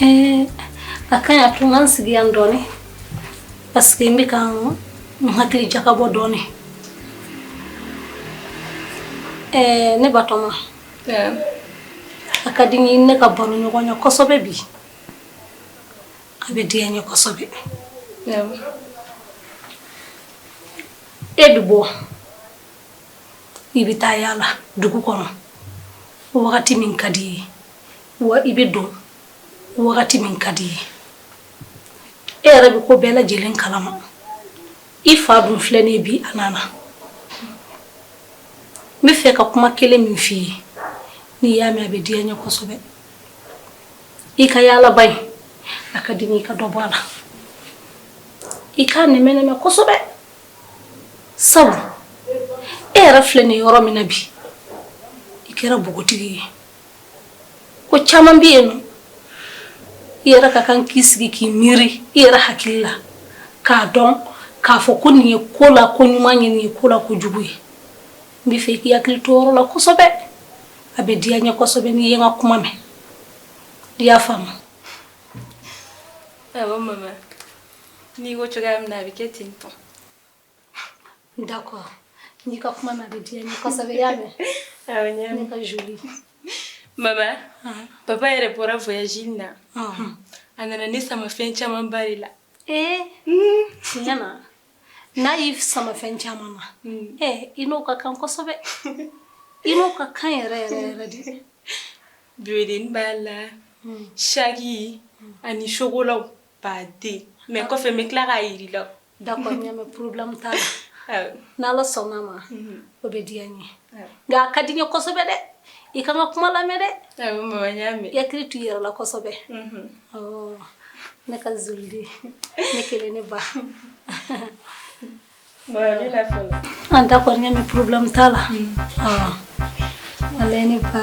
Eh, a ka ɲi a to n ka n sigi yan dɔɔni parce que n bɛ ka n hakili jagabɔ dɔɔni eh, ne batɔma eh. a ka di n ye ne ka baroɲɔgɔnya kosɛbɛ bi a bɛ diya n ye kosɛbɛ e bɛ bɔ i bɛ taa yaala dugu kɔnɔ wagati min ka di i ye wa i bɛ don wagati min ka di i ye e yɛrɛ bɛ ko bɛɛ lajɛlen kalama i fa dun filɛ nin bi a nana n bɛ fɛ ka kuma kelen min f'i ye n'i y'a mɛn a bɛ diya n ye kosɛbɛ i ka yaalaba in a ka di n ye i ka dɔ bɔ a la i k'a nɛmɛ nɛmɛ kosɛbɛ sabu e yɛrɛ filɛ nin yɔrɔ min na bi i kɛra npogotigi ye ko caman bɛ yen i yɛrɛ ka kan k'i sigi k'i miiri i yɛrɛ hakili la k'a dɔn k'a fɔ ko nin ye ko la ko ɲuman ye nin ye ko la ko jugu ye n bɛ fɛ k'i hakili to o yɔrɔ la kosɛbɛ a bɛ diya n ye kosɛbɛ n'i ye n ka kuma mɛn i y'a faamu awɔ mama n'i ko cogoya min na a bɛ kɛ ten tɔ D'accord n'i ka kuma na a bɛ diya n ye kosɛbɛ i y'a mɛn ne ka jolie mama papa yɛrɛ bɔra voyage in na a nana ne sama fɛn caman ba de la ee tiɲɛ na n'a y'i sama fɛn caman ma ee i n'o ka kan kosɛbɛ i n'o ka kan yɛrɛ yɛrɛ yɛrɛ de bebedennin b'a la saki ani chocolat ba de mais kɔfɛ n bɛ tila k'a yira i la D'accord n y'a mɛn problème t'a la n' ala sɔnna a ma o bɛ diya n ye nka a ka di n ye kosɛbɛ dɛ i ka n ka kuma lamɛn dɛ i hakili to i yɛrɛ la kosɛbɛ ne ka jolie den kelen ne ba d'accord n y'a mɛn problème t'a la ne ba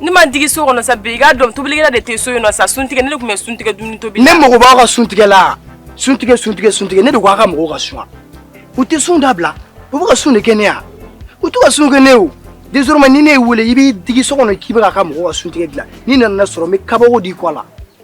n'i m'i digi so kɔnɔ sa bi i k'a dɔn tobilikɛla de tɛ so yen nɔ sa suntigɛ ne de tun bɛ suntigɛ dumuni tobi ne mago b'aw ka suntigɛ la suntigɛ suntigɛ suntigɛ ne de ko aw ka mɔgɔw ka sun u tɛ sun dabila u b'u ka sun de kɛ ne ye wa u t'u ka sun kɛ ne o désormais ni ne y'i wele i b'i digi so kɔnɔ k'i b'aw ka mɔgɔw ka suntigɛ dilan n'i nana ne sɔrɔ n bɛ kabako d'i kɔ la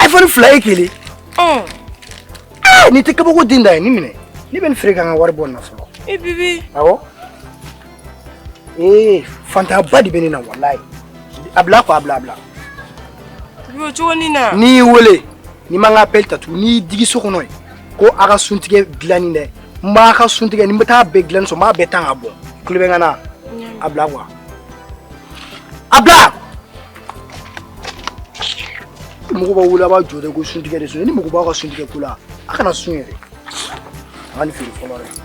iPhone fila i kelen n'i tɛ kabako den dan ye nin minɛ ne bɛ nin feere ka n ka wari bɔ nin na fɔlɔ e bébé awɔ ee fantanyaba de bɛ ne na walayi a bila ko a bila a bila bibi cogo ni na ni n y'i wele n'i ma n ka appel ta tugun n'i y'i digi so kɔnɔ yen ko aw ka suntigɛ dilanni dɛ n b'a ka sun tigɛ ni n bɛ taa bɛɛ dilan sɔn n b'a bɛɛ tan ka bɔ kulo bɛ n ka na a bila quoi a bila mɔgɔ b'a wele a b'a jɔ dɛ ko sun tigɛ de sun ni mɔgɔ b'a ka sun tigɛ ko la a kana sun yɛrɛ a ka nin feere fɔlɔ dɛ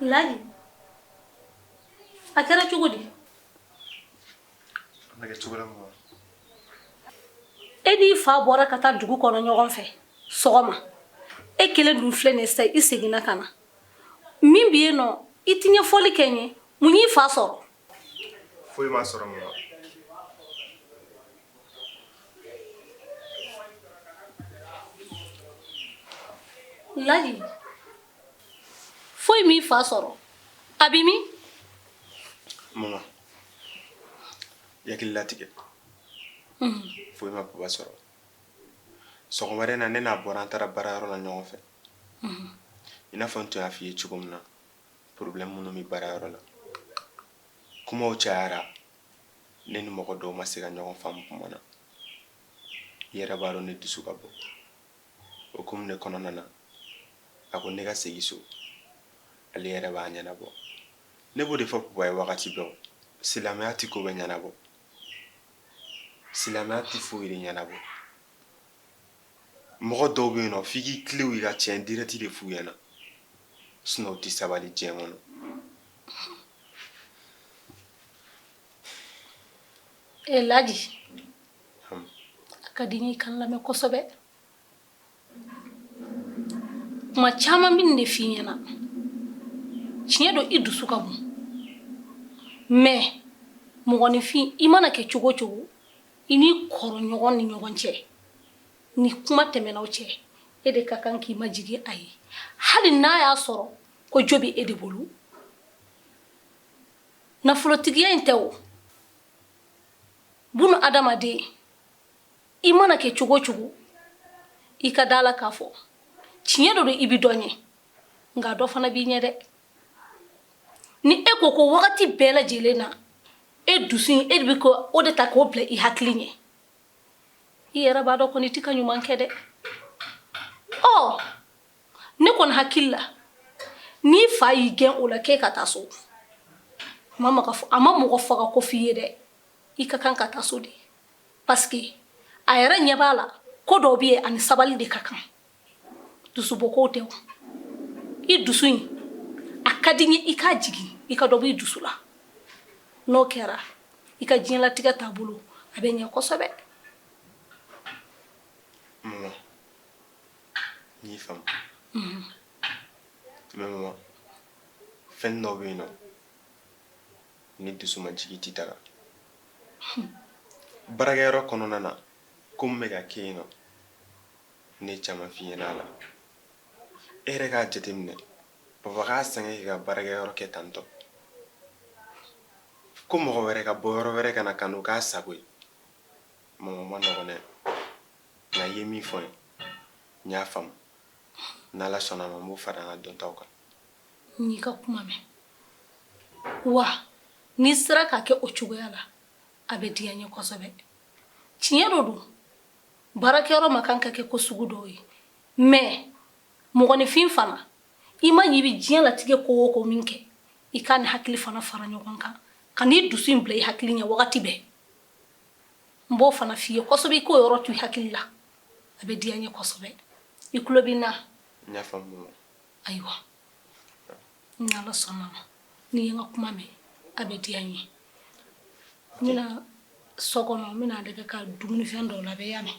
Ladi a kɛra cogo di e n'i fa bɔra ka taa dugu kɔnɔ ɲɔgɔn fɛ sɔgɔma e kelen dun filɛ nin sa i seginna ka na min bɛ yen nɔ i ti ɲɛfɔli kɛ n ye mun y'i fa sɔrɔ foyi m'a sɔrɔ mun Ladi foyi m'i fa sɔrɔ a bɛ min mama i hakili latigɛ hmm. foyi ma baba sɔrɔ sɔgɔmada in na ne n'a bɔra an taara baarayɔrɔ la ɲɔgɔn fɛ hmm. i n'a fɔ n tun y'a f'i ye cogo min na problème minnu bɛ baarayɔrɔ la kumaw cayara ne ni mɔgɔ dɔw ma se ka ɲɔgɔn faamu kuma na i yɛrɛ b'a dɔn ne dusu ka bon o ko minɛ kɔnɔna na a ko ne ka segin so ale yɛrɛ b'a ɲɛnabɔ ne b'o de fɔ papa ye wagati bɛɛ silamɛya tɛ ko bɛɛ ɲɛnabɔ silamɛya tɛ foyi de ɲɛnabɔ mɔgɔ dɔw bɛ yen nɔ f'i k'i tilen i ka tiɲɛ direct de f'u ɲɛna sinon u tɛ sabali diɲɛ kɔnɔ e laji a ka di n ye i ka n lamɛn kosɛbɛ kuma caman n bɛ nin de f'i ɲɛna tiɲɛ don i dusu ka bon mais mɔgɔninfin i mana kɛ cogo o cogo i n'i kɔrɔ ɲɔgɔn ni ɲɔgɔn cɛ ni kuma tɛmɛna aw cɛ e de ka kan k'i majigin a ye hali n'a y'a sɔrɔ ko jo bɛ e de bolo nafolotigiya in tɛ o bunu adamaden i mana kɛ cogo cogo i ka da la k'a fɔ tiɲɛ dɔ don i bɛ dɔ ɲɛ nka dɔ fana b'i ɲɛ dɛ ni e ko ko wagati bɛɛ lajɛlen na e dusu in e de bɛ k'o de ta k'o bila i hakili ɲɛ i yɛrɛ b'a dɔn kɔni i ti ka ɲuman kɛ dɛ ɔ ne kɔni hakili la n'i fa y'i gɛn o la k'e ka taa so a ma mɔgɔ faga ko f'i ye dɛ i ka kan ka taa so de parce que a yɛrɛ ɲɛ b'a la ko dɔw bɛ yen a ni sabali de ka kan dusubɔko tɛ o i dusu in a ka di n ye i k'a jigin i ka dɔ b'i dusu la n'o kɛra i ka diɲɛlatigɛ taabolo a bɛ ɲɛ kosɛbɛ mama n y'i faamu mhm. mais mama fɛn dɔ bɛ yen nɔ ni dusu ma jigin i tɛ taga baarakɛyɔrɔ kɔnɔna na ko min bɛ ka kɛ yen nɔ ne ye caman f'i ɲɛna a la e yɛrɛ k'a jateminɛ papa k'a sɛgɛn k'i ka baarakɛyɔrɔ kɛ tantɔ ko mɔgɔ wɛrɛ ka bɔ yɔrɔ wɛrɛ ka na ka n'o k'a sago ye mama a man nɔgɔn dɛ nka i ye min fɔ n ye n y'a faamu n'ala sɔnna ma n b'o fara n ka dɔntaw kan n y'i ka kuma mɛn wa n'i sera k'a kɛ o cogoya la a bɛ diya n ye kosɛbɛ tiɲɛ dɔ don baarakɛyɔrɔ man kan ka kɛ ko sugu dɔw ye mais mɔgɔninfin fana i man ɲi i bɛ diɲɛ latigɛ ko o ko min kɛ i k'a ni hakili fana fara ɲɔgɔn kan kan'i dusu in bila i hakili ɲɛ wagati bɛɛ n b'o fana f'i ye kosɛbɛ i k'o yɔrɔ to i hakili la a bɛ diya n ye kosɛbɛ i tulo bɛ n na ayiwa ni ala sɔnna ma n'i ye n ka kuma mɛn a bɛ diya n ye n bɛna so kɔnɔ n bɛna dɛgɛ ka dumunifɛn dɔw labɛn i y'a mɛn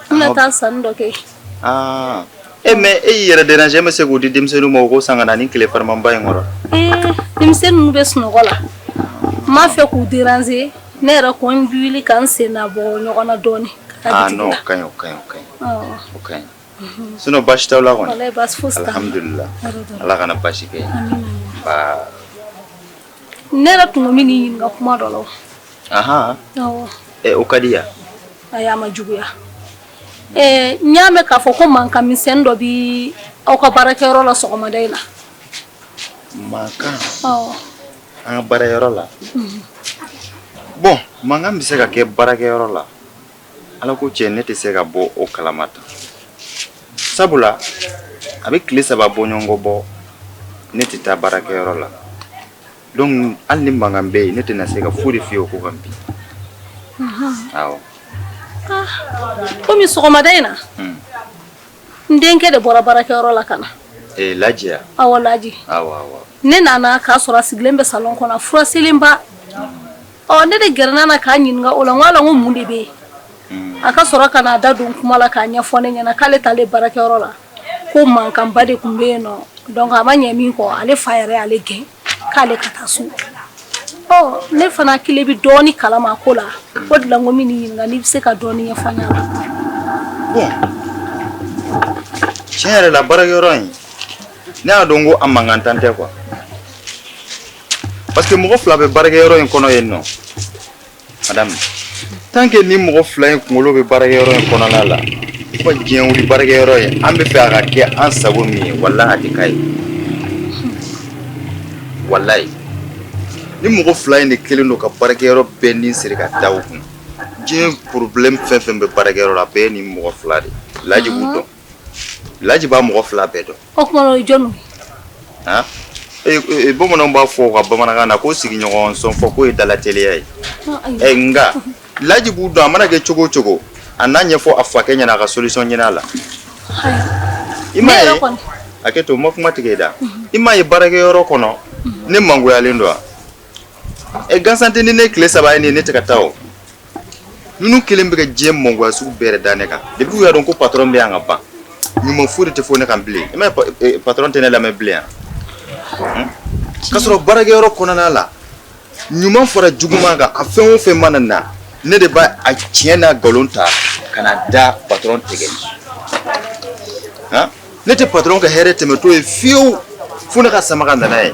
N bɛna taa sanni dɔ kɛ. Aa e mais e y'i yɛrɛ déranger e ma se k'o di denmisɛnninw ma u k'o san ka na ni tile farimanba in kɔrɔ. Ee denmisɛnnin ninnu bɛ sunɔgɔ la. N m'a fɛ k'u déranger ne yɛrɛ ko n bɛ wuli ka n sen na bɔ ɲɔgɔn na dɔɔni. Aa non o ka ɲi o ka ɲi o ka ɲi. Awɔ. O ka ɲi. Unhun. Sinon baasi t'aw la kɔni? Walayi baasi fosi t'an na. Alhamdulilahi Ala kana baasi kɛ. Amina yarabi. Nbaa! ne yɛrɛ tun ko n bɛ n'i ɲininka kuma dɔ la o. ahan awɔ. ɛ o ka diya. ayi a ma juguya ɛɛ n y'a mɛn k'a fɔ ko mankan misɛnnin dɔ bɛ aw ka baarakɛyɔrɔ la sɔgɔmada in na. mankan. awɔ. an ka baarakɛyɔrɔ la. bɔn mankan bɛ se ka kɛ baarakɛyɔrɔ la. Ala ko cɛ ne tɛ se ka bɔ o kalama ta sabula a bɛ tile saba bɔɲɔgɔnko bɔ ne tɛ taa baarakɛyɔrɔ la donc hali ni mankan bɛ yen ne tɛna se ka foyi de f'i ye o ko kan bi kɔmi sɔgɔmada in na n denkɛ de bɔra baarakɛyɔrɔ la ka na laji wa awɔ laji ne nana k'a sɔrɔ a sigilen bɛ salon kɔnɔ fura selenba Ɔ ne de gɛrɛnna na k'a ɲininka o la n k'a la n ko mun de bɛ yen a ka sɔrɔ ka n'a da don kuma la k'a ɲɛfɔ ne ɲɛna k'ale taa ale baarakɛyɔrɔ la ko mankanba de tun bɛ yen nɔ donc a ma ɲɛ min kɔ ale fa yɛrɛ y'ale gɛn k'ale ka taa so ne fana hakili bɛ dɔɔnin kalama ko la o de la n ko n b'i ɲininka n'i bɛ se ka dɔɔnin ɲɛfɔ n ɲɛna tiɲɛ yɛrɛ la baarakɛyɔrɔ in ne y'a dɔn ko a man kan tan tɛ quoi parce que mɔgɔ fila bɛ baarakɛyɔrɔ in kɔnɔ yen nɔ madame tant que ni mɔgɔ fila in kunkolo bɛ baarakɛyɔrɔ in kɔnɔna la ko diɲɛ wuli baarakɛyɔrɔ in an bɛ fɛ a ka kɛ an sago min ye walahi a tɛ k'a ye walayi ni mɔgɔ fila in de kɛlen don ka baarakɛyɔrɔ bɛɛ ni siri ka da u kun diɲɛ problème fɛn o fɛn bɛ baarakɛyɔrɔ la a bɛɛ ye nin mɔgɔ fila de ye laji b'u dɔn Laji b'a mɔgɔ fila bɛɛ dɔn o tuma o ye jɔnw ye bamananw b'a fɔ ka bamanankan na ko sigiɲɔgɔn sɔn fɔ k'o ye dalateliya ye ɛ nka laji b'u dɔn a mana kɛ cogo o cogo a n'a ɲɛfɔ a fakɛ ɲɛna a ka solution ɲini a la i m'a ye hakɛ to n ma kuma tigɛ i da i m'a ye baarakɛyɔrɔ kɔnɔ ne mangoyalen don wa ɛ gansan tɛ ni ne tile saba ye nin ne tɛ ka taa o Ninnu kɛlen bɛ ka diɲɛ mangoya sugu bɛɛ de da ne kan depuis u y'a dɔn ko patron bɛ yan ka ban ɲuman foyi de tɛ fɔ ne kan bilen i m'a ye patron tɛ ne lamɛn bilen wa k'a sɔrɔ baarakɛyɔrɔ kɔnɔna la ɲuman fara juguman kan a fɛn o fɛn mana na ne de b'a a tiɲɛ n'a nkalon ta ka na da patron tɛgɛ ne tɛ patron ka hɛrɛ tɛmɛtɔ ye fiyewu fo ne k'a sama ka na n'a ye.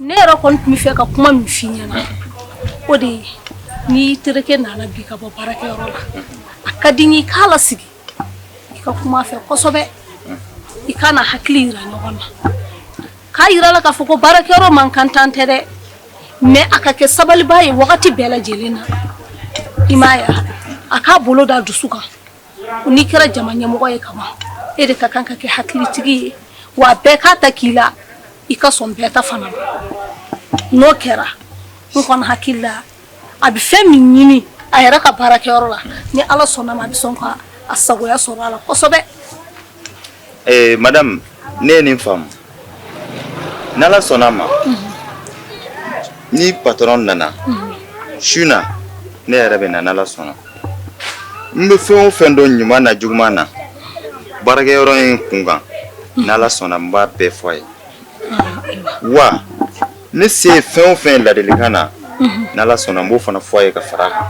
ne yɛrɛ kɔni tun bɛ fɛ ka kuma min f'i ɲɛna o de ye n'i terikɛ nana bi ka bɔ baarakɛyɔrɔ la a ka di n ye i k'a lasigi i ka kuma a fɛ kosɛbɛ i ka na hakili yira ɲɔgɔn na k'a yira a la k'a fɔ ko baarakɛyɔrɔ man kan tan tɛ dɛ mais a ka kɛ sabaliba ye wagati bɛɛ lajɛlen na i m'a ye a k'a bolo da dusu kan n'i kɛra jama ɲɛmɔgɔ ye kaban e de ka kan ka kɛ hakilitigi ye wa bɛɛ k'a ta k'i la i ka sɔn bɛɛ ta fana ma n'o kɛra n kɔni hakili la a bɛ fɛn min ɲini a yɛrɛ ka baarakɛyɔrɔ la ni ala sɔnna ma a bɛ sɔn ka a sagoya sɔrɔ a la kosɛbɛ Ee madame ne ye nin faamu ni ala sɔnna ma ni patron nana su na ne yɛrɛ bɛ na ni ala sɔnna n bɛ fɛn o fɛn dɔn ɲuman na juguman na baarakɛyɔrɔ in kunkan ni ala sɔnna n b'a bɛɛ fɔ a ye wa ne se ye fɛn o fɛn ye ladilikan na ni ala sɔnna n b'o fana fɔ a ye ka fara a kan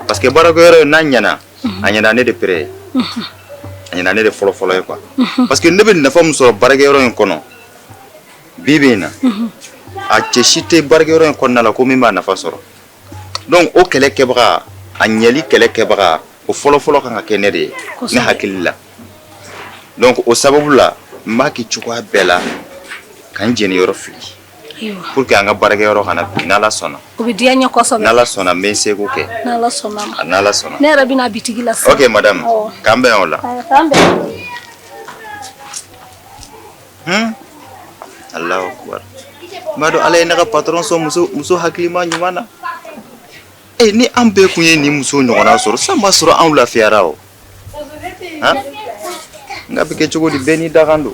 parce que baarakɛyɔrɔ in n'a ɲɛna a ɲɛna ne de pere ye a ɲɛna ne de fɔlɔ fɔlɔ ye quoi parce que ne bɛ nafa min sɔrɔ baarakɛyɔrɔ in kɔnɔ bi bi in na a cɛ si tɛ baarakɛyɔrɔ in kɔnɔna la ko min b'a nafa sɔrɔ donc o kɛlɛ kɛbaga a ɲɛli kɛlɛ kɛbaga o fɔlɔ fɔlɔ kan ka kɛ ne de ye ne hakili la donc o sababu la n b'a kɛ cogoya bɛɛ la ka n jeniyɔrɔ fili Pour que an ka baarakɛyɔrɔ kana bin n' Ala sɔnna o bɛ diya n ye kosɛbɛ n' Ala sɔnna n bɛ n seko kɛ n' Ala sɔnna ma n' Ala sɔnna ne yɛrɛ bɛ na bitigi la sisan ok madame k'an bɛn o la k'an bɛn hun Alahu akubari n b'a dɔn Ala ye ne ka patron sɔn muso muso hakilima ɲuman na ee ni an bɛɛ kun ye nin muso ɲɔgɔnna sɔrɔ sisan b'a sɔrɔ anw lafiyara o han nk'a bɛ kɛ cogo di bɛɛ n'i dakan don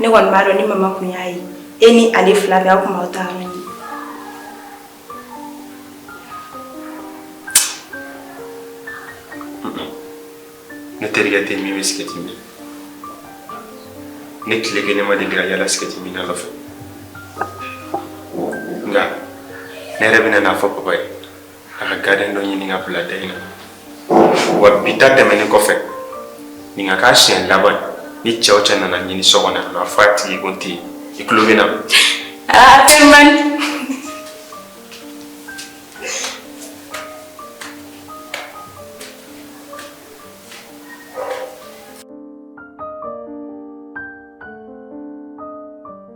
ne kɔni b'a dɔn ni mama kun y'a ye e ni ale fila bɛɛ aw kun b'aw taayɔrɔ ɲini ne terikɛ tɛ min bɛ sigɛti min ne tile kelen ma deli ka yala sigɛti minna nɔfɛ nka ne yɛrɛ bɛna n'a fɔ papa ye a ka gardien dɔ ɲini ka bila da in na wa bi ta tɛmɛnen kɔfɛ nin ka k'a siɲɛ laban ni cɛ o cɛ nana n ɲini so kɔnɔ yan nɔ a fɔ a tigi ko n tɛ yen i tulo bɛ n na aa fɛn man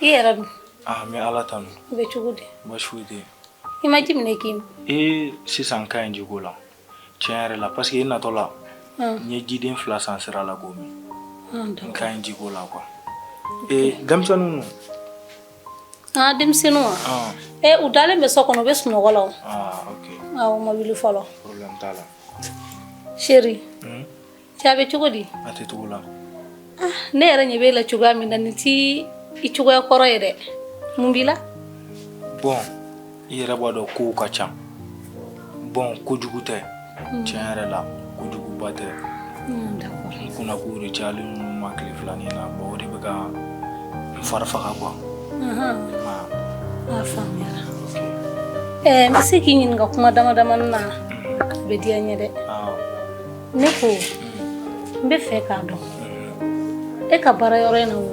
i yɛrɛ dun ah n bɛ ala tanu i bɛ cogo di baasi tɛ i ma ji minɛ k'i min sisan n ka ɲi jiko la tiɲɛ yɛrɛ la parce que i natɔ la n ye jiden fila san sira la k'o min n ka ɲi jiko la quoi ee denmisɛnninw dun aa denmisɛnninw wa ee u dalen bɛ so kɔnɔ u bɛ sunɔgɔ la o ah ok awɔ u ma wuli fɔlɔ problème t'a la chérie Cɛ a bɛ cogo di? A tɛ cogo la. Ah ne yɛrɛ ɲɛ b'e la cogoya min na nin t'i cogoya kɔrɔ ye dɛ. Mun b'i la? Bon i yɛrɛ b'a dɔn kow ka ca. Bon ko jugu tɛ. Hmm. Tiɲɛ yɛrɛ la ko juguba tɛ. Hmm d'accord. N kunna kow de cayalen don ne ma tile fila nin na. Bon o de bɛ ka n fari faga quoi. Ahan. Ah. A faamuyara. Ɛɛ n bɛ se k'i ɲininka kuma damadamanin na? A bɛ diya n ye dɛ. Awɔ. Ne ko n bɛ fɛ k'a dɔn e ka baara yɔrɔ in na wo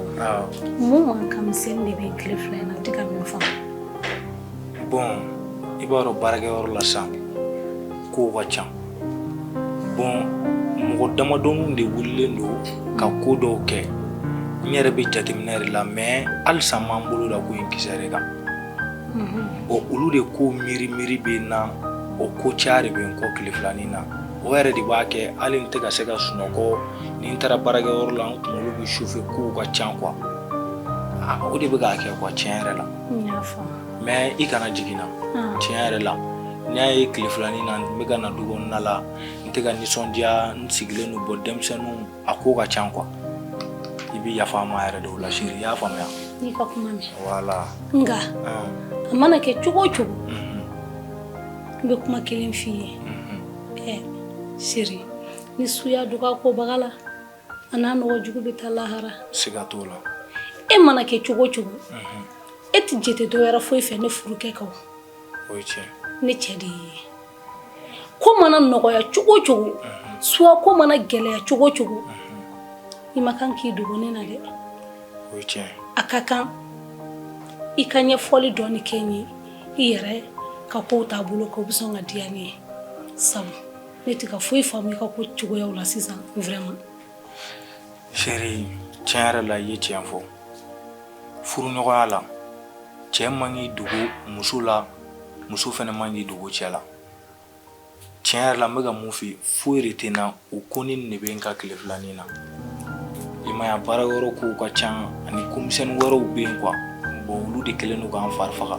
mun mankan misɛnnin de bɛ tile fila in na n tɛ ka min faamu bon i b'a dɔn baarakɛyɔrɔ la sisan kow ka ca bon mɔgɔ damadɔninw de wulilen don ka ko dɔw kɛ n yɛrɛ bɛ jateminɛ de la mais halisa n ma n bolo da ko in kisɛ de kan bon olu de ko miiri miiri bɛ n na o ko caya de bɛ n kɔ tile filanin na o yɛrɛ de b'a kɛ hali n tɛ ka se ka sunɔgɔ ni n taara baarakɛ yɔrɔ la n kunkolo bɛ chauffer kow ka ca quoi ah, o de bɛ k'a kɛ quoi tiɲɛ yɛrɛ la mais i kana jigi n na ah. tiɲɛ yɛrɛ la n y'a ye tile filanin na n bɛ ka na du kɔnɔna la n tɛ ka nisɔndiya n sigilen don bon denmisɛnninw a ko ka ca quoi i bɛ yafa n ma yɛrɛ de o la chérie i y'a faamuya n y'i ka kuma mɛn voilà nka a mana kɛ cogo o cogo n bɛ kuma kelen f'i ye ɛ chérie ni su y'a dogo a kobaga la a n'a nɔgɔ jugu bɛ taa lahara siga t'o la e mana kɛ cogo o cogo e tɛ jate dɔ wɛrɛ foyi fɛ ne furukɛ kan o ye tiɲɛ ne cɛ de y'i ye ko mana nɔgɔya cogo cogo soit ko mana gɛlɛya cogo cogo i ma kan k'i dogo ne na dɛ a ka kan i ka ɲɛfɔli dɔɔni kɛ n ye i yɛrɛ ka kow taabolo kan o bɛ sɔn ka diya ne ye sabu ne tɛ ka foyi faamu i ka ko cogoyaw la sisan vraiment. chérie tiɲɛ yɛrɛ la i ye tiɲɛ fɔ furuɲɔgɔnya la cɛ man k'i dogo muso la muso fana man k'i dogo cɛ la tiɲɛ yɛrɛ la n bɛ ka mun f'i ye foyi de tɛ n na o konin nin de bɛ n kan tile filanin na i m'a ye a baara yɔrɔ kow ka ca ani ko misɛnnin wɛrɛw bɛ yen quoi bon olu de kɛlen don ka n fari faga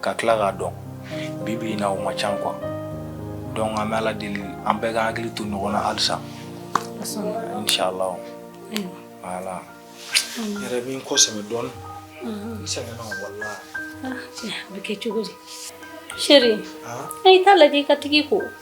ka tila k'a dɔn bibi in na o ma ca quoi donc an bɛ ala deli an bɛɛ ka hakili to ɲɔgɔn na halisa inshallah voilà n yɛrɛ bɛ n kɔ sɛmɛ dɔɔni n sɛgɛnna walahi a bɛ kɛ cogo di chérie i t'a lajɛ i ka tag'i ko